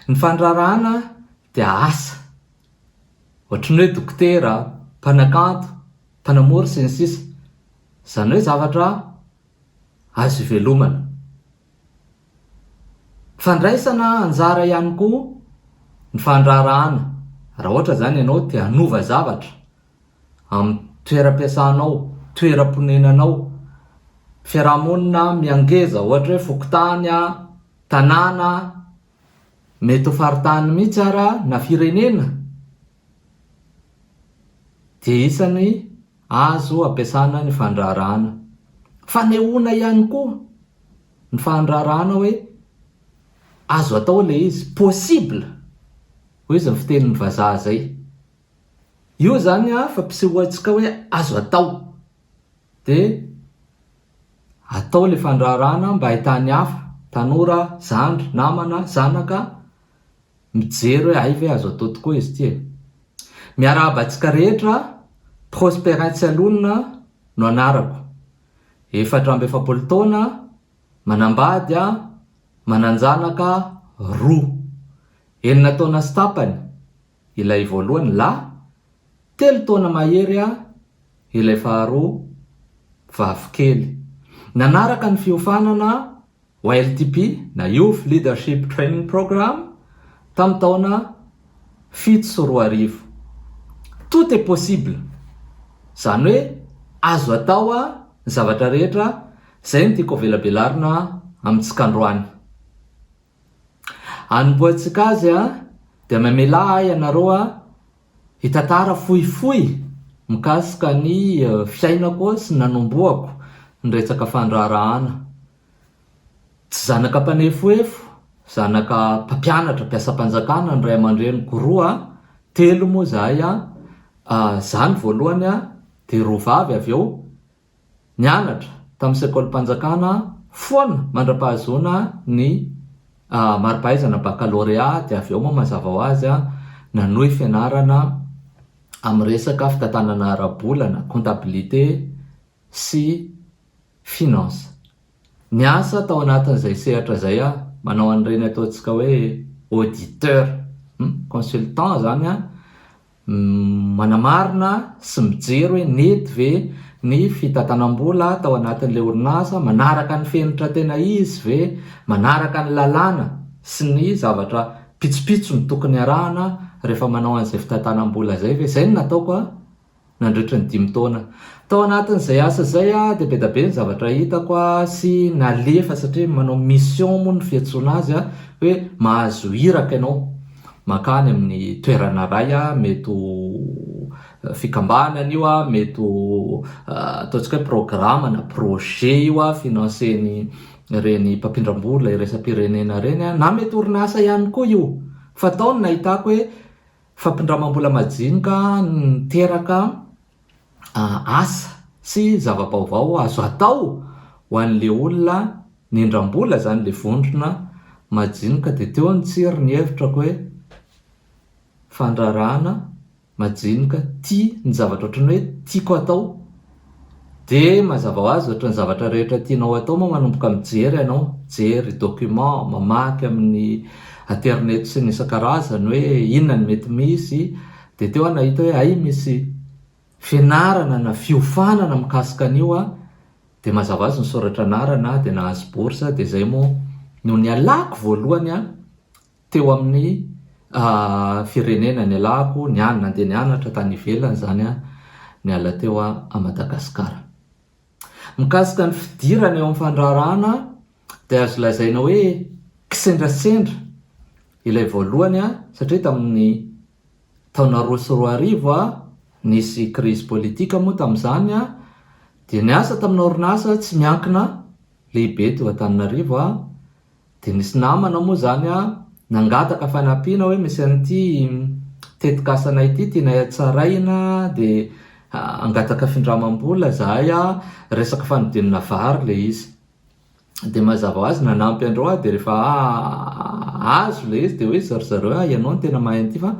Ny fandraharahana dia asa ohatran'ny hoe dokotera, mpanakanto, mpanamory sy ny sisa Izany hoe zavatra azo ivelomana. Fandraisana anjara ihany koa ny fandraharahana raha ohatra izany ianao te hanova zavatra amin'ny toeram-piasanao, toeram-ponenanao, fiarahamonina mihangeza, ohatra hoe fokontany, tanàna, mety ho faritany mihitsy ara na firenena, dia isan'ny azo ampiasana ny fandraharahana. Fanehoana ihany koa ny fandraharahana hoe azo atao ilay izy, possible, hoy izy ny fitenin'ny vazaha izay. Io zany an fampisehoantsika hoe azo atao de atao le fandraharahana mba ahitan'ny hafa, tanora, zandry, namana, zanaka mijery hoe hay ve azo atao tokoa izy ity e! Miarahaba antsika rehetra, Prosperin Tsialonona no anarako, efatra amby efapolo taona, manambady an, manan-janaka roa, enina taona sy tapany, Ilay voalohany lahy, telo taona mahery aho, ilay faharoa vavy kely. Nanaraka ny fiofanana YLTP na Youth Leadership Training Program tamin'ny taona fito sy roa arivo. Tout est possible! Izany hoe azo atao ny zavatra rehetra, izay no tiako avelabelarina amintsika androany. Anompoantsika azy an, dia mamelà ahy ianareo an, hitantara fohifohy mikasika ny fiainako sy ny nanombohako ny resaka fandraharahana. Tsy zanaka mpanefohefo, zanaka mpampianatra, mpiasam-panjakana ny ray aman-dreniko roa an, telo moa izahay an, izaho ny voalohany an, dia roa vavy avy eo, Nianatra tamin'ny sekolim-panjakana foana mandra-pahazoana ny mari-pahaizana bakalorea dia avy eo moa mazava ho azy nanohy fianarana amin'ny resaka fitantanana ara-bola na comptabilité sy finance. Niasa tao anatin'izay sehatra izay aho, manao an'ireny ataontsika hoe auditeur, hum, consultant izany an, manamarina sy mijery hoe nety ve ny fitantanam-bola tao anatin'ilay orinasa, manaraka ny fenitra tena izy ve, manaraka ny lalàna sy ny zavatra pitsopitsony tokony arahana rehefa manao an'izay fitantanam-bola izay ve, izay no nataoko an. nandritry ny dimy taona. Tao anatin'izay asa izay dia be dia be ny zavatra hitako sy nalefa satria manao mission moa ny fiantsoana azy hoe mahazo iraka ianao mankany amin'ny toerana iray, mety ho fikambanana io, mety ho ataontsika hoe programa na projet io financer-n'ireny mpampindram-bola iraisam-pirenena ireny na mety orinasa ihany koa io. Fa tao no nahitako hoe Fampindramam-bola majinika no niteraka asa sy zava-baovao azo atao ho an'ilay olona nindram-bola izany ilay vondrona majinika dia teo ny tsiry ny hevitrako hoe fandrarana majinika tia ny zavatra ohatran'ny hoe tiako atao Dia mazava ho azy ohatry ny zavatra rehetra tianao atao moa manomboka mijery ianao, mijery document, mamaky amin'ny aterineto sy ny isan-karazany hoe inona no mety misy, dia teo aho nahita hoe hay misy fianarana na fiofanana mikasika an'io aho, dia mazava ho azy nisoratra anarana aho dia nahazo bourse aho, dia izay moa no nialako voalohany Teo amin'ny firenena nialako, niany nandeha nianatra tany ivelany izany aho, niala teo aho à Madagascar. Mikasika ny fidirana eo amin'ny fandraharahana dia azo lazaina hoe kisendrasendra ilay voalohany aho satria tamin'ny taona roa sy roa arivo aho nisy crise politique moa tamin'izany aho dia niasa tamin'ny orinasa tsy miankina lehibe teo Antananarivo aho Dia nisy namana moa izany nangataka fanampiana hoe misy an'ity tetikasana ity tianay hatsaraina dia hangataka findramam-bola izahay, resaka fanodinana vary ilay izy. Dia mazava ho azy nanampy andreo aho dia rehefa azo ilay izy dia hoe ry zareo hoe ianao no tena mahay an'ity fa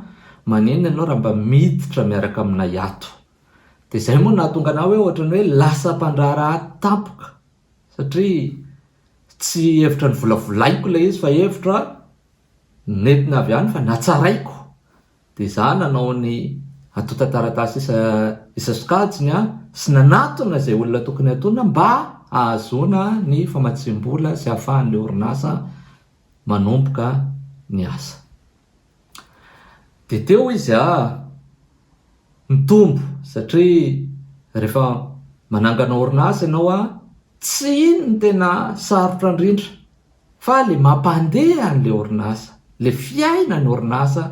maninona ianao raha mba miditra miaraka aminay ato. Dia izay moa no nahatonga anah hoe ohatran'ny hoe lasa mpandraharaha tampoka. Satria tsy hevitra novolavolaiko ilay izy fa hevitra nentina avy any fa natsaraiko. Dia izaho nanao ny antontan-taratasy isa isa sokajiny sy nanatona izay olona tokony hatonina mba hahazoana ny famatsiam-bola sy hahafahan'ilay orinasa manomboka ny asa. Dia teo izy aa nitombo satria rehefa manangana orinasa ianao aa tsy iny no tena sarotra indrindra fa le mampandeha an'le orinasa, le fiainan'ny orinasa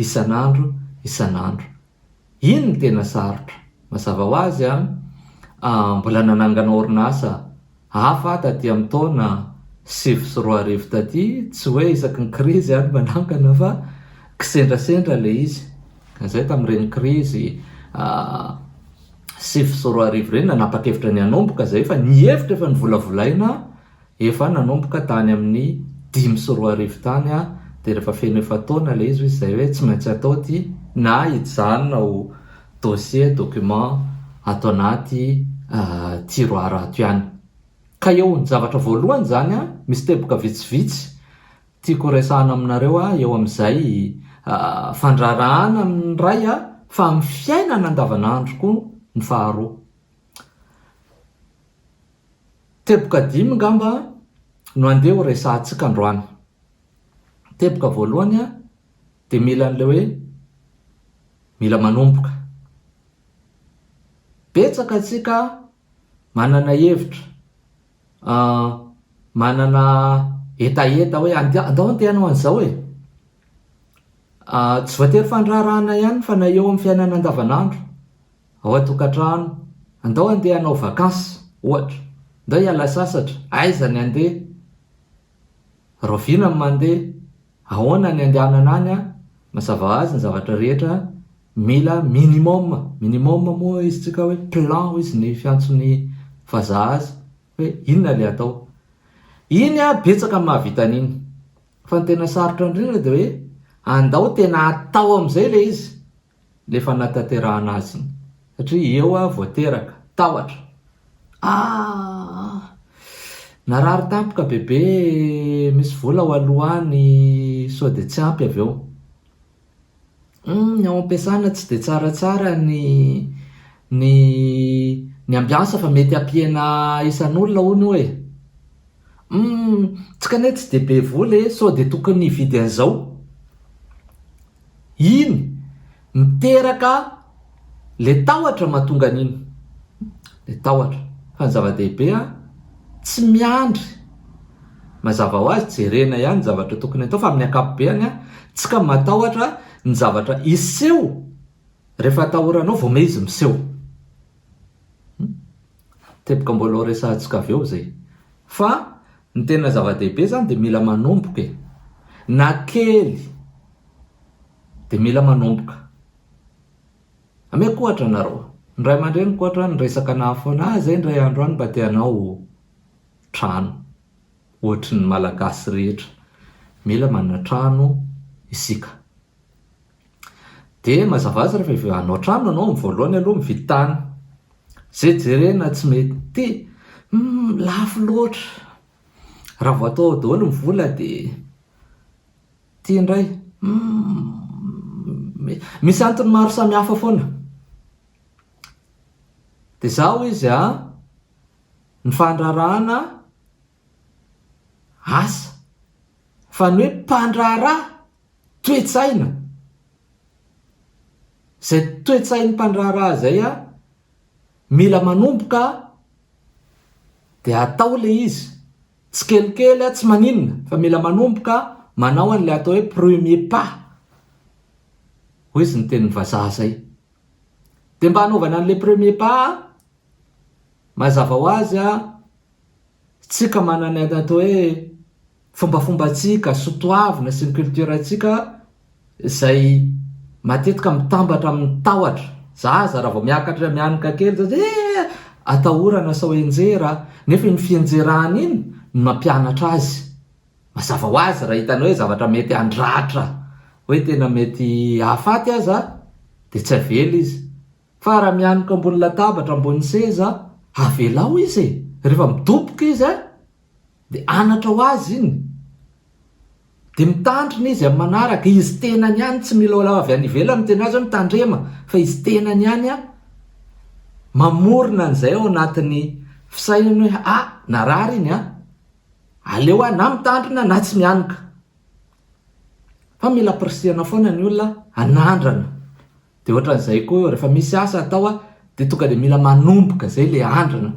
isan'andro isan'andro. Iny no tena sarotra. Mazava ho azy an, mbola nanangana orinasa hafa aho taty amin'ny taona sivy sy roa arivo taty, tsy hoe isaky ny krizy aho no manangana fa kisendrasendra ilay izy. Ka izay tamin'ireny krizy sivy sy roa arivo ireny, nanapa-kevitra ny hanomboka izay fa ny hevitra efa novolavolaina Efa nanomboka tany amin'ny dimy sy roa arivo tany aho dia rehefa feno efa-taona ilay izy hoy izahay hoe tsy maintsy atao ity na hijanona ho dossier, document, ato anaty tiroir ato ihany. Ka eo ny zavatra voalohany izany an, misy teboka vitsivitsy tiako horesahana aminareo eo amin'izay fandraharahana amin'ny iray fa amin'ny fiainana andavanandro koa ny faharoa. Teboka dimy ngamba no handeha ho resahantsika androany. Teboka voalohany dia mila an'ilay hoe mila manomboka. Betsaka antsika manana hevitra, manana hetaheta hoe andao handeha hanao an'izao e! Tsy voatery fandraharahana ihany fa na eo amin'ny fiainana andavanandro. Ao an-tokantrano, Andao handeha hanao vakansy, ohatra. Andao hiala sasatra. Aiza ny handeha? Rahoviana ny mandeha? Ahoana ny andehanana any an? Mazava ho azy ny zavatra rehetra mila minimum. Minimum moa hoy izy tsika hoe plan hoy izy ny fiantson'ny vazaha azy hoe inona ilay atao. Iny an, betsaka ny mahavita an'iny. Fa ny tena sarotra indrindra dia hoe andao tena atao amin'izay ilay izy. le fanatanterahana azy iny satria eo aho vao teraka, tahotra, aah! Narary tampoka bebe misy vola ao aloha any sao dia tsy ampy avy eo. Humm ny ao am-piasana tsy dia tsaratsara ny ny ny ambiansa fa mety hampihena isan'olona hono io e! Humm tsy kane tsy dia be vola e sao dia tokony hividy an'izao. Iny, miteraka le tahotra mahatonga an'iny. Le tahotra. Fa ny zava-dehibe an, tsy miandry. Mazava ho azy, jerena ihany ny zavatra tokony atao fa amin'ny ankapobeany an, tsy ka matahotra ny zavatra hiseho rehefa atahoranao vao me izy miseho. Hum. Teboka mbola ho resahantsika avy eo izay. Fa ny tena zava-dehibe izany dia mila manomboka e. Na kely dia mila manomboka. Ameko ohatra anareo. Ny ray aman-dreniko ohatra ny resaka naha foana ahy izay indray andro any mba te hanao trano. Ohatry ny Malagasy rehetra. Mila manana trano isika. Dia mazava azy rehefa avy hanao trano ianao, ny voalohany aloha mividy tany. Izay jerena tsy mety, humm lafo loatra. Raha vao atao ao daholo ny vola dia ity indray, humm misy antony maro samihafa foana. Dia izaho hoy izy an, ny fandraharahana asa fa ny hoe mpandraharaha toe-tsaina, izay toe-tsain'ny mpandraharaha izay an, mila manomboka an, dia atao ilay izy tsikelikely an, tsy maninona fa mila manomboka manao an'ilay atao hoe premier pas, hoy izy ny tenin'ny vazaha izay. Dia mba hanaovana an'ilay premier pas an, mazava ho azy an, Tsika manana ny atao hoe fombafombantsika, sotoavina sy ny culture-ntsika izay matetika mitambatra amin'ny tahotra. Za aza raha vao miakatra mianoka kely za dia ee atahorana sao henjera. Nefa iny fihenjerana iny no nampianatra azy. Mazava ho azy raha hitanao hoe zavatra mety handratra, hoe tena mety hahafaty aza dia tsy avela izy. Fa raha mianoka ambony latabatra ambony seza avelao izy e! Rehefa midoboka izy a! Dia anatra ho azy iny! Dia mitandrina izy amin'ny manaraka, izy tenany ihany tsy mila olona avy any ivelany miteny azy hoe mitandrema fa izy tenany ihany a! Mamorona an'izay ao anatin'ny fisainany hoe a! narary iny a! aleo aho na mitandrina na tsy mianoka! Fa mila ampirisihana foana ny olona hanandrana Dia ohatran'izay koa rehefa misy asa atao a, dia tonga dia mila manomboka izay ilay andrana.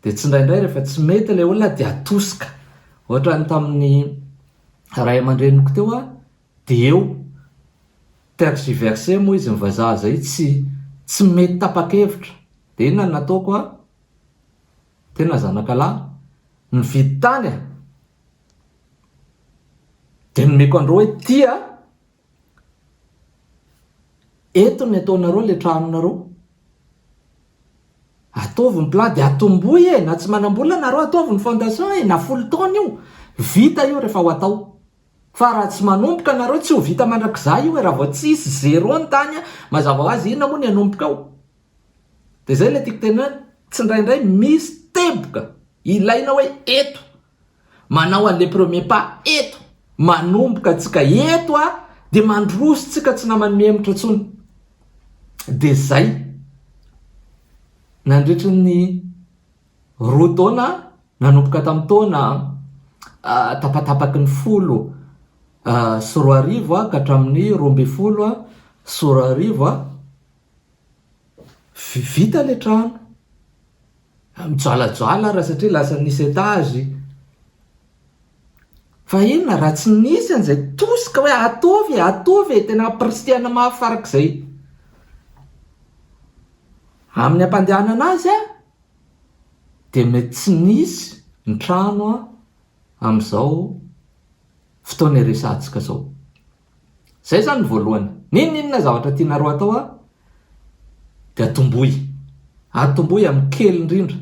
Dia tsindraindray rehefa tsy mety ilay olona dia atosika. Ohatran'ny tamin'ny ray aman-dreniko teo a, dia eo, tergiversé moa izy ny vazaha izay, tsy tsy mety tapa-kevitra. Dia inona no nataoko a? Tena zanakalahy, nividy tany a! Dia nomeko andreo hoe ity a, Eto ny ataonareo le tranonareo ataovy ny plan de atombohy e na tsy manambola nareo ataovy ny fondation e na folo taona io vita io refa ho atao fa raha tsy manomboka nareo tsy ho vita mandrakizay io e raha vao tsisy zero ny tany a mazava ho azy inona moa ny anomboka ao de zay le tiko tenena tsindraindray misy teboka ilaina hoe eto Manao an le premier pas eto, manomboka tsika eto a de mandroso tsika tsy namany mihemotra tsony. De zay. Nandritry ny roa taona nanomboka tam taona tapatapaky ny folo sy roa arivo a ka hatramin'ny roa ambin'ny folo sy roa arivo a, Vita le trano. Mijoalajoala ra satria lasa nisy etage. Fa inona raha tsy nisy an'izay tosika hoe ataovy e, ataovy e, tena ampirisihana mafy farak'izay. Amin'ny ampandehanana azy dia mety tsy nisy ny trano amin'izao fotoana iresahantsika izao. Zay zany ny voalohany. N'inon'inona zavatra tianareo atao a, dia atomboy. Atomboy amin'ny kely indrindra.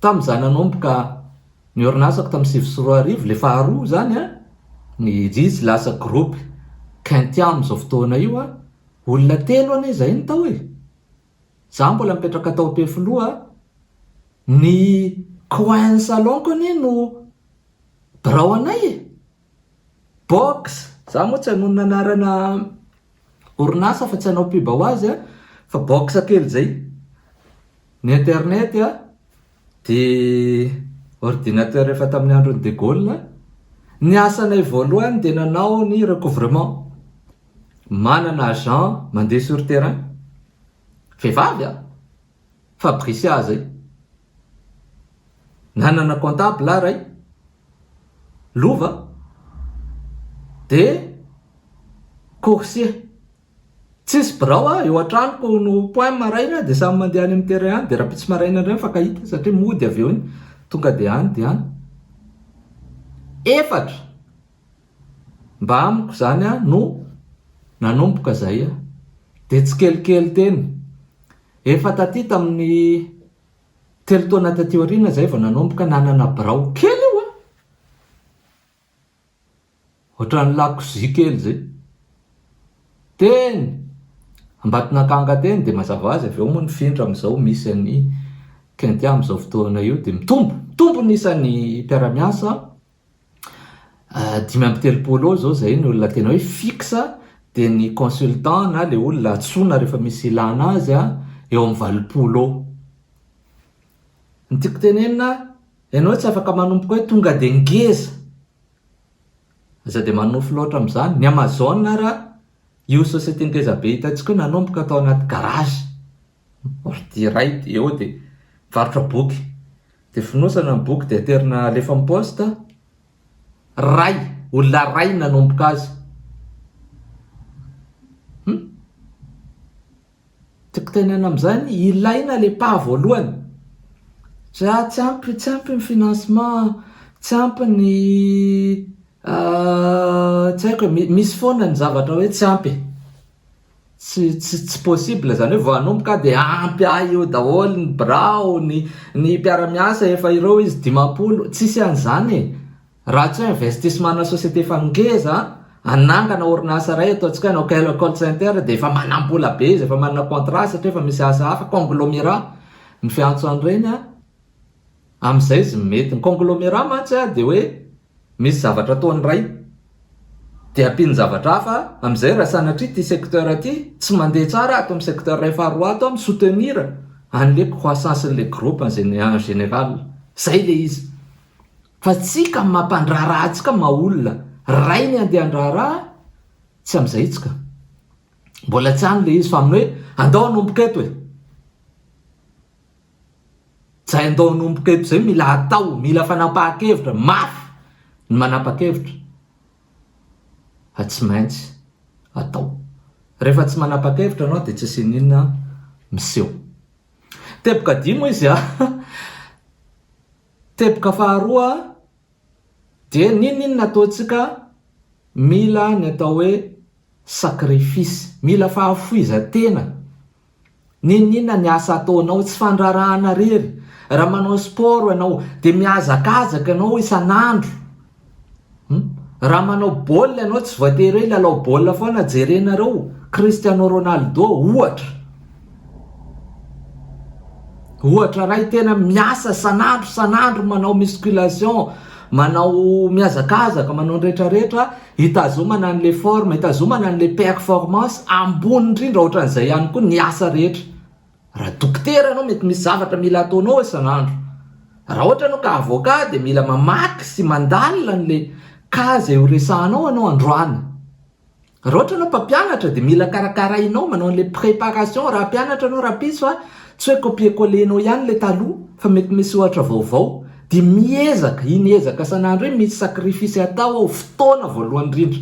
Tamin'izaho nanomboka ny orinasako tamin'ny sivy sy roa arivo, ilay faharoa izany a, ny izy lasa groupe Caintian amin'izao fotoana io a, olona telo anie izahay no tao e. Izaho mbola mipetraka tao Ampefiloha a, ny coin salon-ko anie no birao anay e. Box, za moa tsy hanonona anarana orinasa fa tsy hanao pub ho azy a, fa box kely zay, ny internet a, de ordinateur efa tamin'ny andron'i de Gaulle, ny asanay voalohany de nanao ny recouvrement, manana agent mandeha sur terrain, vehivavy a, Fabricia zay. Nanana comptable aho ray. Lova. De coursier. Tsisy birao aho, eo an-tranoko no point maraina de samy mandeha any amin'ny terrain any de raha pitsy maraina indray mifankahita satria mody avy eo iny. Tonga de any de any. Efatra. Mba amiko izany no nanomboka izay dia tsikelikely teny. Efa taty tamin'ny telo taona taty aoriana izay vao nanomboka nanana birao kely io an! Ohatran'ny lakozia kely izay. Teny Ambatonakanga teny dia mazava ho azy avy eo moa nifindra amin'izao misy an'i Kintya amin'izao fotoana io dia mitombo, mitombo ny isan'ny mpiara-miasa dimy amby telopolo eo izao izay ny olona tena hoe fixe dia ny consultant na ilay olona antsoina rehefa misy ilana azy a eo amin'ny valopolo eo ny tiako tenenina ianao tsy afaka manomboka hoe tonga dia ngeza aza dia manofy loatra amin'izany ny amazon ara io société ngeza be hitantsika io nanomboka tao anaty garage Boaty iray eo dia mivarotra boky, dia fonosana ny boky dia aterina alefa amin'ny poste, ray, olona iray no nanomboka azy, hum, tiako tenenana amin'izany, ilaina ilay pas voalohany, za tsy ampy, tsy ampy ny financement, tsy ampy ny tsy haiko e, misy foana ny zavatra hoe tsy ampy e. Tsy tsy tsy possible zany hoe vao hanomboka aho dia ampy ahy eo daholo ny birao, ny ny mpiara-miasa efa ireo izy dimampolo, tsisy an'izany e! Raha tsy hoe investissement-na société efa ngeza hanangana orinasa iray ataontsika hoe hanao call call center dia efa manam-bola be izy, efa manana contrat satria efa misy asa hafa, conglomerat no fiantso an'ireny an! Amin'izay izy mety. Ny conglomerat mantsy an dia hoe Misy zavatra ataony ray de ampiany zavatra hafa amizay raha sanatria ty secteur ty tsy mandeha tsara ato am secteur iray faha roa ato an mi-soutenir anle croissance nle groupe en general zay le izy fa tsika am mampandraharaha atsika maha olona ray ny andeha andraharaha tsy amizay itsika mbola tsy any le izy fa aminy hoe andao anomboka eto e. Zay andao anomboka eto zay mila atao, mila fanapahan-kevitra, mafy ny manapa-kevitra fa tsy maintsy atao. Rehefa tsy manapa-kevitra anao dia tsy asiana inona miseho. Teboka dimy hoy izy a. Teboka faharoa dia n'inon'inona ataontsika mila ny atao hoe sacrifice, mila fahafoizan-tena N'inon'inona ny asa ataonao, tsy fandrarahana rery. Raha manao sport ianao, dia mihazakazaka ianao isan'andro. Raha manao baolina ianao, tsy voatery hoe hilalao baolina foana, jerenareo Cristiano Ronaldo ohatra. Ohatra iray tena miasa isan'andro isan'andro manao musculation, manao mihazakazaka, manao ny rehetrarehetra. Hitazomana an'ilay forme, hitazomana an'ilay performance ambony indrindra ohatran'izay ihany koa ny asa rehetra. Raha dokotera ianao mety misy zavatra mila ataonao isan'andro. Raha ohatra ianao ka avocat dia mila mamaky sy mandalina an'ilay cas izay horesahanao ianao androany. Raha ohatra ianao mpampianatra dia mila karakarainao, manao an'ilay préparation raha mpianatra ianao rahampitso a, tsy hoe copier coller-nao ihany ilay taloha fa mety misy ohatra vaovao. Dia miezaka, iny ezaka san'andro iny, misy sacrifice atao ao, fotoana voalohany indrindra.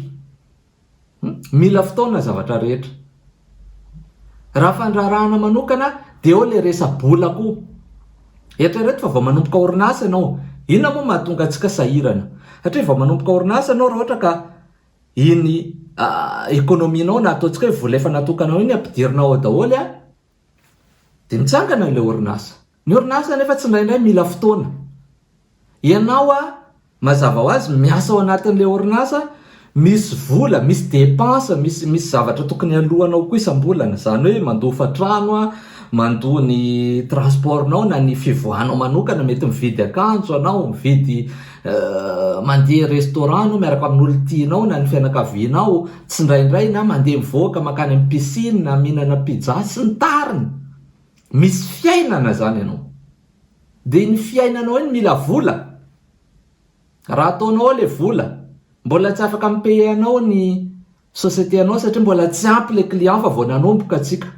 Mila fotoana ny zavatra rehetra. Raha fandraharahana manokana, dia eo ilay resa-bola koa. Eritrereto fa vao manomboka orinasa ianao, inona moa mahatonga antsika sahirana? Satria vao manomboka orinasa ianao, raha ohatra ka iny economie-nao na ataontsika hoe vola efa natokanao iny ampidirinao ao daholo, Dia mitsangana ilay orinasa. Ny orinasa anefa tsindraindray mila fotoana. Ianao a, mazava ho azy miasa ao anatin'ilay orinasa, misy vola, misy dépenses, misy misy zavatra tokony aloanao koa isam-bolana. Izany hoe mandofa trano a, mandoa ny transport-nao na ny fivoahanao manokana, mety mividy akanjo ianao, mividy. Mandeha restaurant anao miaraka amin'olona tianao na ny fianakavianao, tsindraindray na mandeha mivoaka mankany amin'ny piscine na mihinana pizza sy ny tariny. Misy fiainana izany ianao. Dia iny fiainanao iny mila vola. Raha ataonao ao ilay vola, mbola tsy afaka mi-payer anao ny société anao satria mbola tsy ampy ilay client fa vao nanomboka tsika.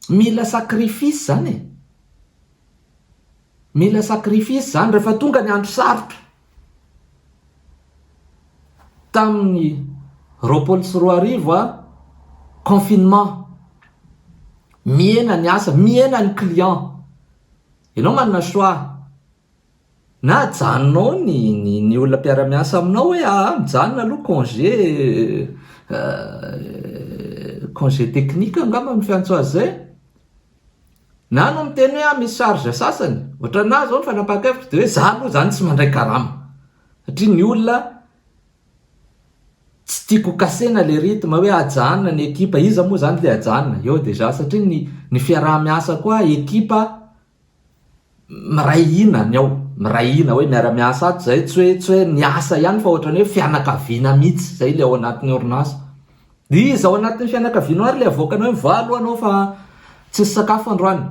Mila sacrifice zany e! Mila sacrifice zany rehefa tonga ny andro sarotra. Tamin'ny roapolo sy roa arivo a, confinement, mihena ny asa, mihena ny client. Ianao manana choix. Na ajanonao ny ny ny olona mpiara-miasa aminao hoe aa mijanona aloha congé congé technique angamba no fiantso azy izay na anao miteny hoe aho misy charge sasany, ohatranà izao ny fanapahan-kevitro dia hoe za aloha izany tsy mandray karama satria ny olona tsy tiako ho kasena ilay rythme hoe ajanona ny ekipa, iza moa izany ilay ajanona? eo déjà satria ny ny fiaraha-miasa koa ekipa Miray hina ny ao, miray hina hoe miara miasa ato zay, tsy hoe tsy hoe miasa ihany fa ohatrany hoe fianakaviana mitsy zay le ao anatin'ny orinasa. Iza ao anatin'ny fianakavianao ary le avoakanao hoe mivaha aloha anao fa tsisy sakafo androany.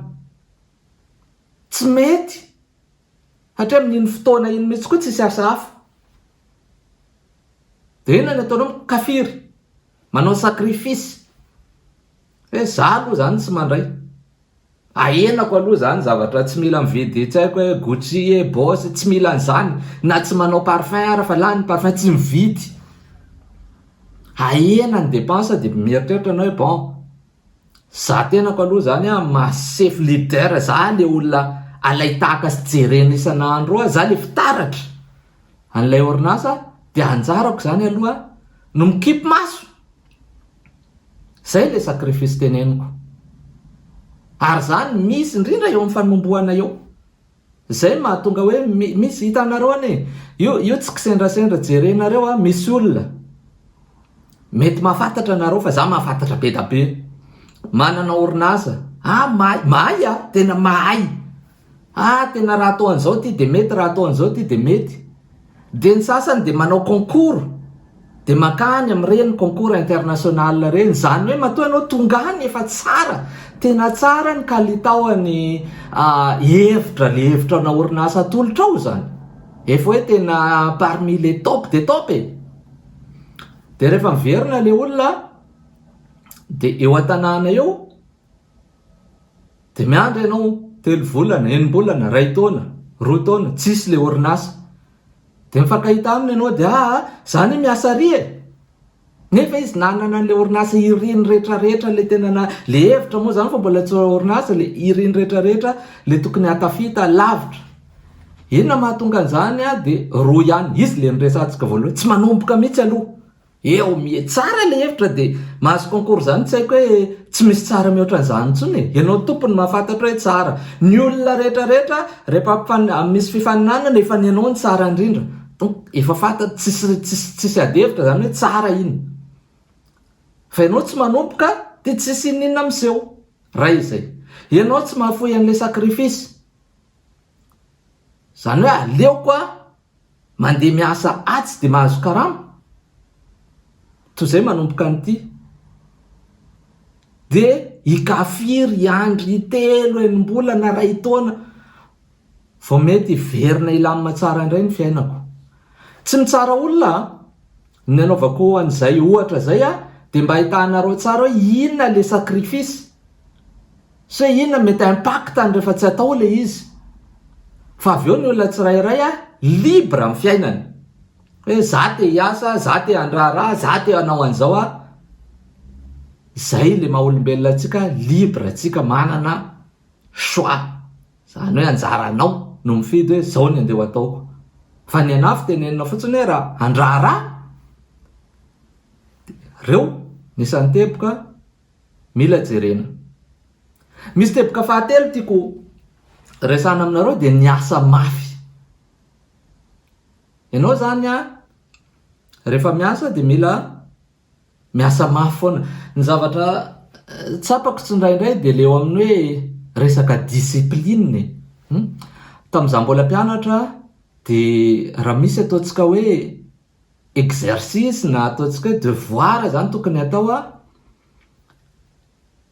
Tsy mety satria amin'iny fotoana iny mitsy koa tsisy asa hafa. De inona ny ataonao mikafiry, manao sacrifice hoe za aloha zany tsy mandray. Ahenako aloha zany zavatra tsy mila mividy tsy haiko hoe Gucci e, Boss, tsy mila an'izany na tsy manao parfum ara fa lany ny parfum tsy mividy. Ahena ny dépense dia mieritreritra anao hoe bon, za tenako aloha zany a maha sefo leader za le olona alain-tahaka sy jerena isan'andro eo, za le fitaratra an'ilay orinasa dia anjarako zany aloha no mikipy maso Zay le sacrifice teneniko. Ary zany misy indrindra eo am fanombohana eo. Zay mahatonga hoe misy hitanareo anie io io tsy kisendrasendra jerenareo a misy olona mety mahafantatra nareo fa za mahafantatra bedabe manana orinasa a mahay mahay a tena mahay Ah tena raha atao an'izao ity dia mety, raha atao an'izao ity dia mety. Dia ny sasany dia manao concours, dia mankany amin'ireny concours international ireny. Izany hoe matoa ianao tonga any efa tsara, tena tsara ny kalitaon'ny hevitra, ilay hevitra ana orinasa atolotrao izany. Efa hoe tena parmi les top des top e! Dia rehefa miverina ilay olona dia eo an-tanàna eo, Dia miandry ianao telo volana, enim-bolana, iray taona, roa taona, tsisy ilay orinasa. Dia mifankahita aminy ianao dia aa, za anie miasa ary e! Nefa izy nanana an'ilay orinasa iriny rehetra rehetra ilay tena na, ilay hevitra moa zany fa mbola tsy orinasa, ilay iriny rehetra rehetra ilay tokony hahatafita lavitra. Inona mahatonga an'izany dia roa ihany, izy ilay niresahantsika voalohany, tsy manomboka mihitsy aloha. Eo mie tsara le hevitra de mahazo concours zany tsy haiko hoe tsy misy tsara mihoatra an'izany intsony e! Ianao tompony mahafantatra hoe tsara. Ny olona rehetra rehetra rehefa mifan misy fifaninanana efa ny anao no tsara indrindra donc efa fantatra tsisy tsisy tsisy ady hevitra zany hoe tsara iny fa ianao tsy manomboka de tsisy ininona miseho raha izay ianao tsy mahafoy an'le sacrifice zany hoe aleoko a Mandeha miasa atsy dia mahazo karama? Toy izay manomboka an'ity. Dia i Kafiry, i Andry, telo, enim-bolana, iray taona, vao mety hiverina hilamina tsara indray ny fiainako. Tsy mitsara olona an! Ny anaovako an'izay ohatra izay dia mba ahitahanareo tsara hoe inona ilay sacrifice. Sa inona no mety impactany rehefa tsy atao ilay izy? Fa avy eo ny olona tsirairay libre amin'ny fiainany. Hoe za te hiasa, za te handraharaha, za te hanao an'izao aho. Izay ilay maha olombelona antsika, libre antsika, manana choix. Izany hoe anjara anao no mifidy hoe izao ny andeha ho ataoko. Fa ny anafo tenenina fotsiny hoe raha handraharaha, dia reo ny isan'ny teboka Mila jerena. Misy teboka fahatelo tiako resahana aminareo dia ny asa mafy. Ianao izany an, rehefa miasa dia mila miasa mafy foana. Ny zavatra tsapako tsindraindray dia ilay eo amin'ny hoe resaka discipline e. Tamin'izaho mbola mpianatra dia raha misy ataontsika hoe exercice na ataontsika hoe devoir izany tokony hatao an,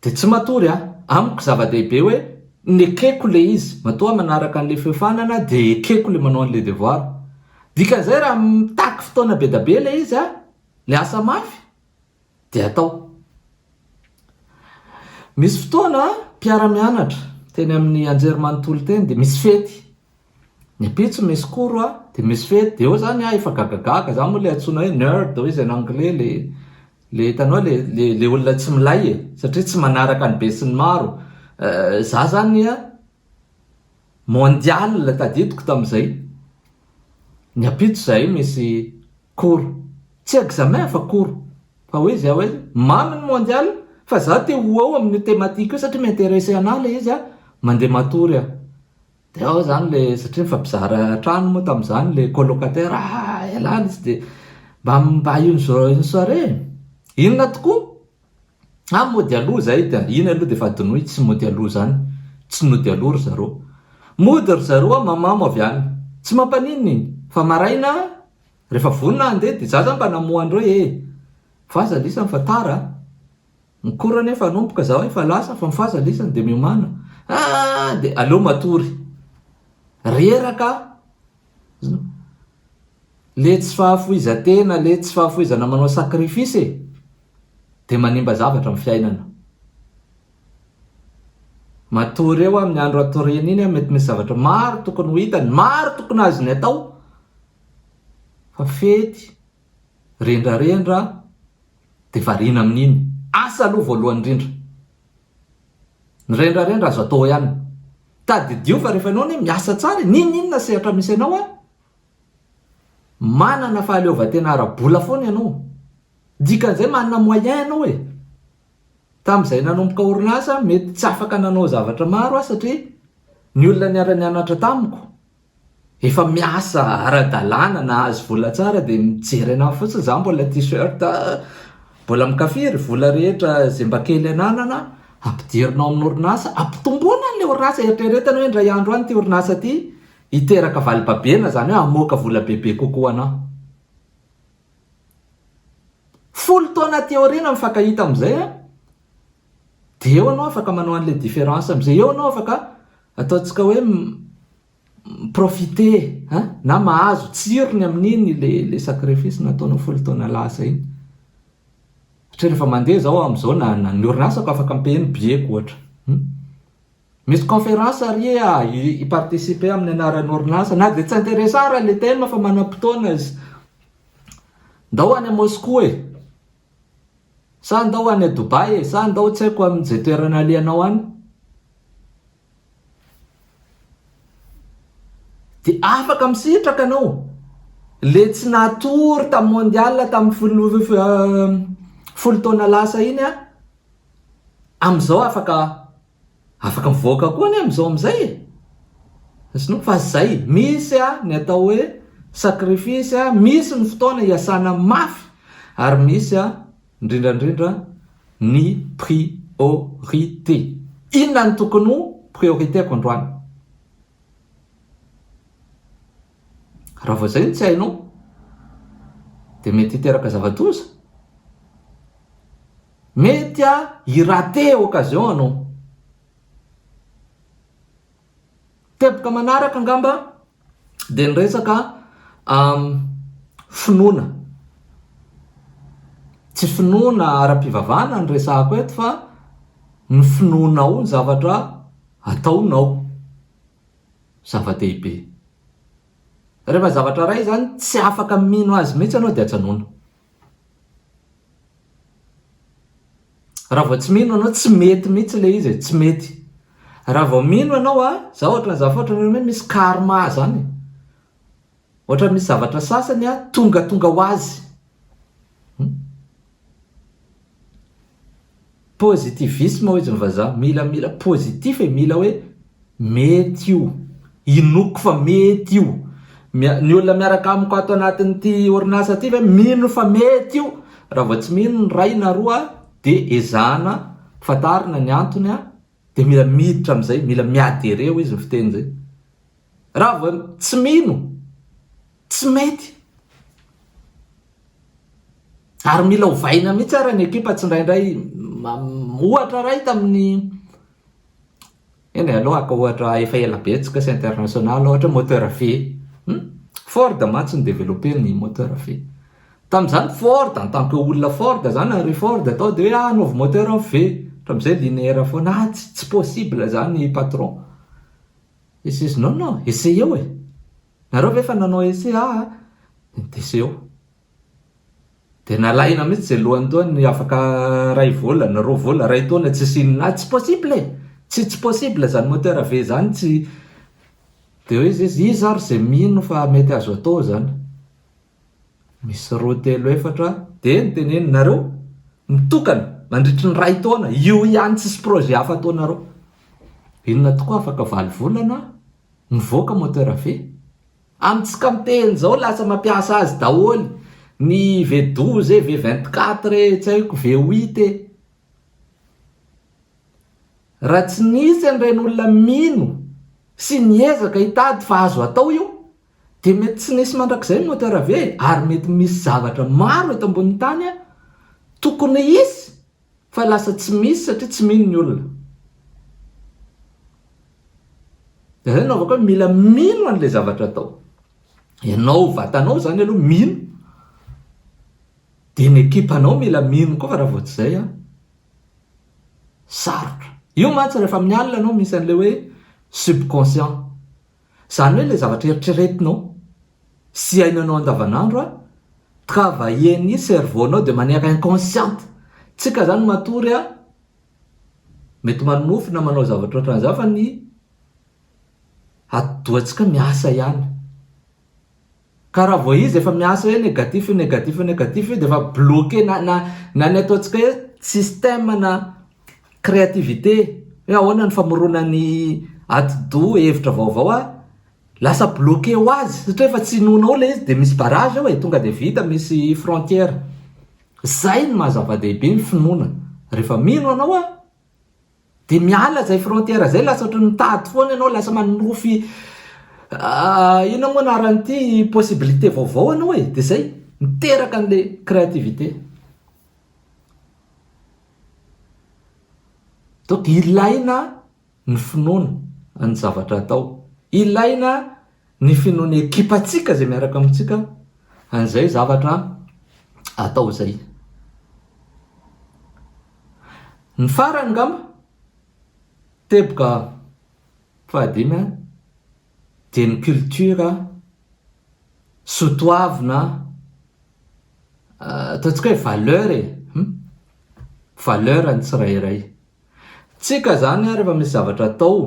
dia tsy matory an! amiko zava-dehibe hoe ny ekeko ilay izy, matoa manaraka an'ilay feo fanana dia ekeko ilay manao an'ilay devoir, dikan'izay raha mitaky fotoana be dia be ilay izy an, miasa mafy, Dia atao. Misy fotoana mpiara-mianatra teny amin'ny anjerimanontolo teny dia misy fety. Ny ampitso misy cours a, dia misy fety, dia eo zany aho efa gagagaga, za moa le antsoina hoe nerd hoy izy en anglais, le le hitanao le le le olona tsy milay e, satria tsy manaraka ny besinimaro, eh, za zany a, Mondial tadidiko tamzay ny ampitso zahay misy cours tsy examen fa cours fa hoe zay hoe mamy ny mondial fa za te ho ao amin'io thématique io satria m'interesse anah le izy ah mande matory ah de ao zany le satria mifampizara trano moa tamzany le colocataire ah ialany izy de mba mba une soirée inona tokoa An mody aloha izay dia iny aloha dia efa adinoy tsy mody aloha izany, tsy nody aloha ry zareo. Mody ry zareo an mamamo avy any. Tsy mampaninona iny. Fa maraina an, rehefa vonona handeha dia za zany mba namoha anreo ee. Faza lisany fa tara an. Ny cours anie efa hanomboka zaho efa lasa fa ny faza lisany dia miomana. An dia aleo matory. Reraka an. le tsy fahafoizan-tena le tsy fahafoizana manao sacrifice e! de manimba zavatra am fiainana. Matory eo amin'ny andro hatoriany iny an mety misy zavatra maro tokony ho hitany, maro tokony azony atao fa fety, rendrarendra de variana amin'iny, asa aloha voalohany indrindra, ny rendrarendra azo atao ihany. Tadidio fa rehefa ianao anie miasa tsara e, n'inon'inona sehatra misy anao ary manana fahaleovantena ara-bola foana ianao. Dikan'izay manana moyen ianao e. Tamin'izay nanomboka orinasa aho mety tsy afaka nanao zavatra maro aho satria ny olona niara-nianatra tamiko efa miasa ara-dalàna nahazo vola tsara dia mijery anah fotsiny za mbola t-shirt mbola mikafia ry vola rehetra zay mba kely ananana ampidirinao amin'ny orinasa ampitomboana an'le orinasa eritreretana hoe indray andro any ity orinasa ity hiteraka valibabena zany hoe hamoaka vola bebe kokoa anah folo taona aty aoriana mifankahita amin'izay an Dia eo anao afaka manao an'ilay différence amin'izay. Eo anao afaka ataontsika hoe mi-profiter hein, na mahazo tsirony amin'iny ilay sacrifice nataonao folo taona lasa iny. Satria rehefa mandeha izao aho amin'izao na, na ny orinasako afaka mi-payer ny billet-ko ohatra. Hum? Misy conférence ary e, ah, hi-participer amin'ny anaran'ny orinasa, na dia tsy interesa ahy raha ilay thème fa manam-potoana izy. Ndao any à Moscou e! Sa ndao any Dubai e? Sa ndao tsy haiko amin ze toerana alehanao any? De afaka misitraka anao le tsy natory tam mondial tam folo taona lasa iny a, amzao afaka Afaka mivoaka koa anie amin'izao amin'izay e! Azonao fa izay, misy ny atao hoe sacrifice, misy ny fotoana iasana mafy ary misy indrindra indrindra ny priorité. Inona no tokony ho priorité-ko androany? Raha vao izay no tsy hainao dia mety hiteraka zava-doza. Mety a i rater occasion anao. Teboka manaraka angamba dia ny resaka finoana. Tsy finoana ara-pivavahana no resahako eto fa ny finoanao ny zavatra ataonao. Zava-dehibe. Rehefa zavatra iray izany tsy afaka mino azy mihitsy ianao dia ajanona. Raha vao tsy mino anao tsy mety mihitsy le izy e, tsy mety. Raha vao mino anao a, za ohatran za foatra oe misy karma zany e. Ohatra misy zavatra sasany a tonga tonga ho azy. Positivisme hoy izy ny vazaha, mila mila positif e, mila hoe mety io, inoako fa mety io, ny olona miaraka amiko ato anatin'ity orinasa ity ve mino fa mety io, raha vao tsy mino ny iray na roa dia ezahana fantarina ny antony a. Dia mila miditra amin'izay, mila miady ereo izy ny fiteny izay. Raha vao tsy mino, tsy mety. Ary mila ovaina mihitsy ary ny ekipa tsindraindray. Ohatra iray tamin'ny eny eh, aloha ka ohatra efa ela betsaka sy international ohatra moteur V. Hmm? Ford mantsy ny développer ny moteur V. Tamin'izany Ford, en tant que olona Ford zany, Henry Ford, atao dia hoe ah anaovy moteur an ve? Hatramin'izay linéaire foana, ah tsy tsy possible izany patron. He says non non, essayeo e! Nareo ve efa nanao essai? Ah ah, dia essayeo. Dia nalahina mihitsy izay lohany toa ny afaka iray volana, roa volana, iray taona tsisy inona, ah tsy possible e! Tsy tsy possible izany moteur ve izany tsy. Dia hoe izy iza ary izay mino fa mety azo atao izany? Misy roa telo efatra dia ny teneniny nareo mitokana mandritry ny ray taona io ihany tsisy projet hafa ataonareo inona tokoa afaka valo volana mivoaka moteur ve amin'ny tsy campaign zao lasa mampiasa azy daholo ny v douze e v vingt quatre e tsy haiko v huit e raha tsy nisy an'ireny olona mino sy niezaka hitady fa azo atao io Dia mety tsy nisy mandrakizay ny moteur ve? Ary mety misy zavatra maro eto ambonin'ny tany tokony hisy fa lasa tsy misy satria tsy mino ny olona. Dia izay no hanaovako hoe mila mino an'ilay zavatra atao. Ianao vatanao izany aloha mino, dia ny ekipanao mila mino koa fa raha vao tsy izay an, sarotra. Io mantsy rehefa amin'ny alina no misy an'ilay hoe subconscient. Izany hoe ilay zavatra eritreretinao sy iainanao andavanandro a travailler-ny cerveau nao de manière inconsciente. Tsika zany matory a mety manonofy na manao zavatra ohatran'izany fa ny atidohantsika miasa ihany. Ka raha vao izy efa miasa hoe negatif, negatif, negatif io dia efa bloquer na, na, na ny ataontsika hoe système na créativité hoe ahoana ny famorona ny atidoha hevitra vaovao a, lasa bloquer ho azy satria efa tsy inoana ao ilay izy dia misy barrage ao e, tonga dia vita misy frontière. Izay no maha zava-dehibe ny finoana, rehefa mino anao a, Dia miala izay frontière izay lasa ohatran'ny mitady foana ianao, lasa manonofy inona moa anaran'ity possibilité vaovao ianao e, dia izay miteraka an'ilay créativité. Donc ilaina ny finoana ny zavatra atao, ilaina Ny finoan'ny ekipantsika izay miaraka amintsika an'izay zavatra atao izay. Ny farany angamba, teboka fahadimy an, dia ny culture sotoavina, ataontsika hoe valeur e, valeur ny tsirairay. Tsika izany an rehefa misy zavatra atao,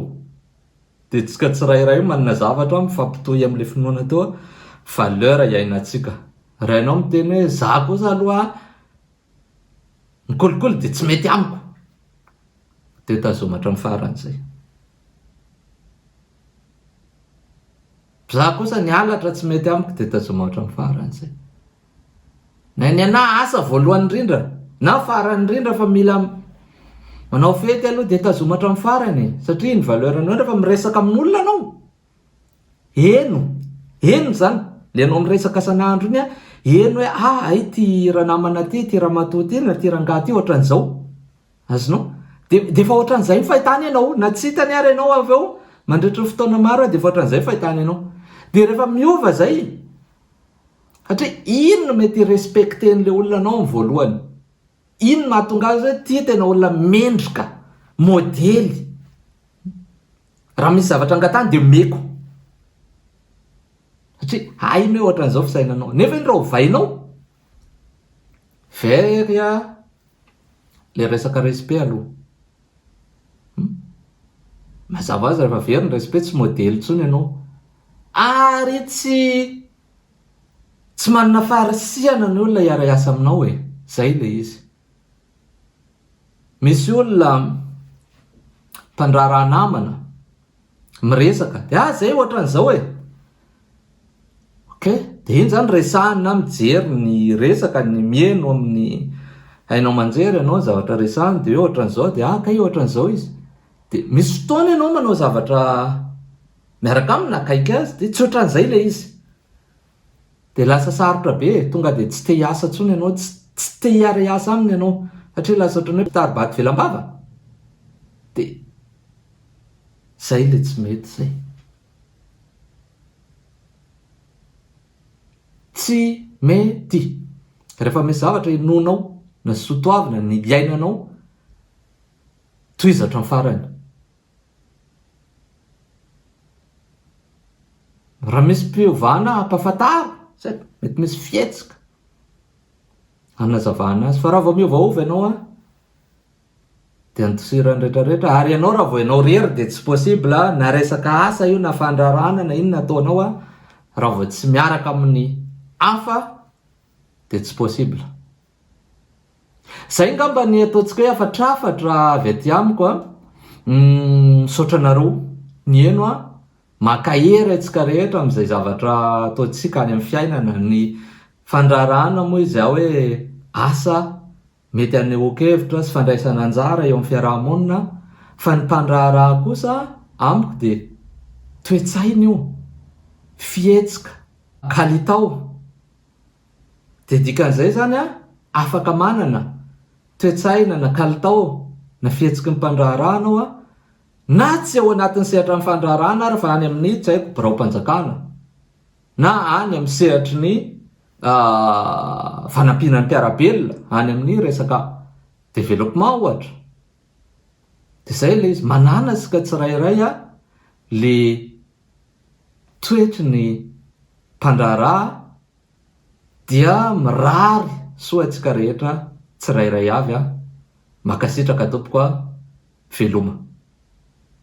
Dia tsika tsirairay io manana zavatra mifampitohy amin'ilay finoana teo hoe valeur iainantsika. Raha ianao miteny hoe za kosa aloha ny kolikoly dia tsy mety amiko, dia tazomy hatramin'ny farany izay. Za kosa ny halatra tsy mety amiko dia tazomy hatramin'ny farany izay. Na ny anah asa voalohany indrindra na farany indrindra fa mila manao fety aloha dia tazoma hatramin'ny farany e! satria iny valeur anao rehefa miresaka amin'olona anao heno heno izany le anao miresaka san'andro iny an, heno hoe ah hay ity ranamana ty, ity ramatoa ty na ity rangahy ty ohatran'izao, azonao? de de efa ohatran'izay ny fahitany anao, na tsy hitany ary ianao avy eo mandritry ny fotoana maro dia efa ohatran'izay ny fahitany anao, dia rehefa miova izay, Satria inn no mety hi-respecter an'ilay olona anao amin'ny voalohany? Inn no mahatonga azy hoe ity tena olona mendrika, modely. Raha misy zavatra angatahany dia omeko. Satria hainy hoe ohatran'izao fisainanao. Nefa iny raha ovainao, very ilay resaka respect aloha. Mazava ho azy rehefa very ny respect tsy modely intsony ianao. Ary tsy. Tsy manana faharisihana ny olona hiara hiasa aminao e! Zay le izy. Misy olona mpandraharaha namana miresaka de ah zay ohatran'izao e! Ok, de iny zany resahiny na mijery ny resaka ny mihaino amin'ny haino aman-jery ianao ny zavatra resahiny de hoe ohatran'izao de ah kay ohatran'izao izy. De misy fotoana ianao manao zavatra miaraka aminy na akaiky azy dia tsy ohatran'izay ilay izy dia lasa sarotra be e, tonga dia tsy te hiasa intsony ianao, tsy tsy te hiara hiasa aminy ianao satria lasa ohatran'ny hoe mpitari-bato ivelam-bava dia izay ilay tsy mety izay. Tsy mety! Rehefa misy zavatra henoinao na sotoavina ny iainanao, tohizo hatramin'ny farany. Raha misy mpiovana ampafantaro satria mety misy fihetsika hanazavana azy fa raha vao miovaova ianao an dia andosirany retraretra ary ianao raha vao ianao rery dia tsy possible na resaka asa io na fandrarana na inona ataonao an raha vao tsy miaraka amin'ny hafa dia tsy possible Zay angamba ny ataontsika hoe hafatrafatra avy aty amiko a. Misaotra anareo niheno a. Mankahery antsika rehetra amin'izay zavatra ataontsika any amin'ny fiainana. Ny fandraharahana moa izy hoe asa mety hanehoan-kevitra sy fandraisana anjara eo amin'ny fiaraha-monina fa ny mpandraharaha kosa amiko dia toe-tsaina io, fihetsika, kalitao. Dia dikan'izay izany aho afaka manana toe-tsaina na kalitao na fihetsiky ny mpandraharaha anao aho, na tsy ao anatin'ny sehatran'ny fandraharahana ary fa any amin'ny tsy haiko biraom-panjakana na any amin'ny sehatry ny fanampiana ny mpiara-belona any amin'ny resaka développement ohatra. Dia izay ilay izy, manana isika tsirairay ilay toetry ny mpandraharaha Dia mirary soa antsika rehetra tsirairay avy a! Makasitraka tompoko a! Veloma.